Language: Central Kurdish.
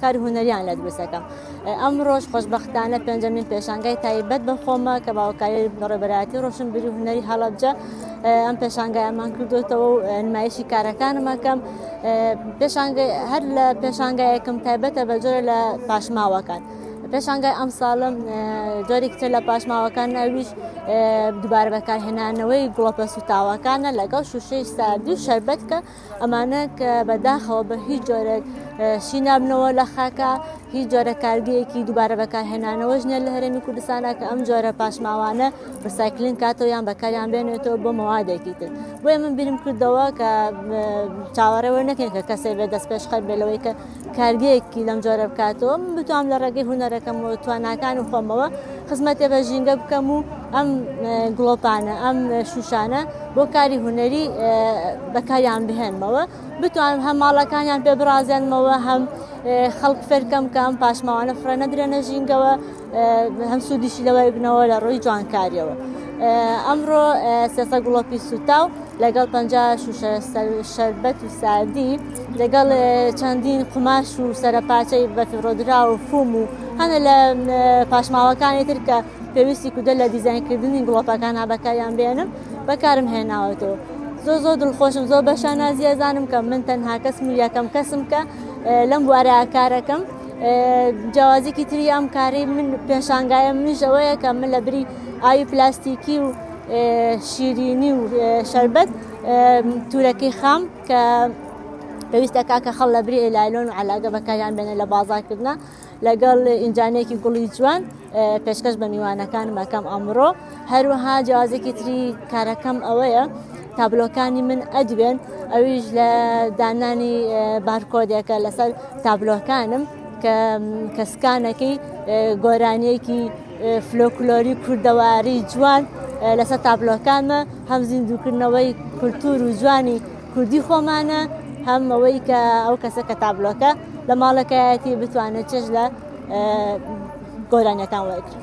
کاری هونەریان لە دروست دەکەم ئەمڕۆژ خۆشببختانە پێنجەمین پێشانگای تایبەت بە خۆمە کە باوکاری بەڕێبەراتی ڕۆشنبیری هونەری هەڵەبجە ئەم پێشانگای ئەمان کردوێتەوە و نمایشی کارەکانمەکەم پێشانگای هەر لە پێشانگایەکەم تایبەتە بە جۆرە لە پاشماوەکان. پێشانگای ئەم ساڵم جۆرێکتر لە پاشماوەکان ناویش دووبارە بەکارهێنانەوەی گڵۆپە سوتاوەکانە لەگەڵ شوشەی ساردی و شربەتکە ئەمانە کە بەداخەوە بە هیچ جۆرێک شی نابنەوە لە خاکە هیچ جۆرە کارگەیەکی دووبارە بەکارهێنانەوەش نیە لە هەرێمی کوردستانە کە ئەم جۆرە پاشماوانە ڕسایکلین کاتەوە یان بەکاریان بێنێتەوە بۆ مەوادێکی تر بۆیە من بیرم کردەوە کە چاوەڕێوە نەکەین کە کەسێ بێ دەست پێشخەر بێ لەوەی کە کارگەیەکی لەم جۆرە بکاتەوە من بتوام لە ڕێگەی هوەرەکەم و تواناکان و خۆمەوە خزمەتێ بە ژینگە بکەم و ئەم گڵۆپانە ئەم شوشانە بۆ کاری هوەری بەکاریان بهێنمەوە بتوانم هەم ماڵەکانیان پێ بڕازێنمەوە هەم خەڵک فەرکەم کەم پاشماوانە فرە نەدرێنە ژینگەوە هەم سوودیشی لەوەی بنەوە لە ڕووی جوانکاریەوە ئەمڕۆ سێسە گوڵەپی سوتا و لەگەڵ پ شوشە شەربەت و ساردی لەگەڵ چەندین قوماش و سەرپاچەی بەفرۆدرا و فوم و هەنە لە پاشماوەکانی تر کە پێویستی کودە لە دیزینکردنی گوڵەپەکان هابەکاریان بێنم بەکارم هێناوەتەوە. زۆ زۆ دڵخۆشم زۆ بەشانازیە زانم کە من تەنها کەسم یەکەم کەسم کە لەم بوارە کارەکەم جیاوازیکی تری ئەم کارەی من پێشانگایە منیش ئەوەیە کە من لە بری ئاوی پلاستیکی و شیرینی و شربەت تورەکەی خام کە پێویستە کاکە خەڵ لە بری لایلۆن و علاگە بەکاریان بێنە لە بازارکردە لەگەڵ ئینجانێکی گوڵی جوان پێشکەش بە میوانەکانم ئەکەم ئەمڕۆ هەروەها جیازێکی تری کارەکەم ئەوەیە تابلۆکانی من ئەدوێن ئەویش لە دانانی بارکۆدێکە لەسەر تابلۆکانم کە کەسکانەکەی گۆرانیەکی فلۆکلۆری کوردەواری جوان لەسەر تابلۆکانمە هەم زیندووکردنەوەی کولتور و جوانی کوردی خۆمانە هەم ئەوەی کە ئەو کەسە کە تابلۆکە لە ماڵەکەیەتی بتوانێت چش لە گۆرانیەکان وەرگرن.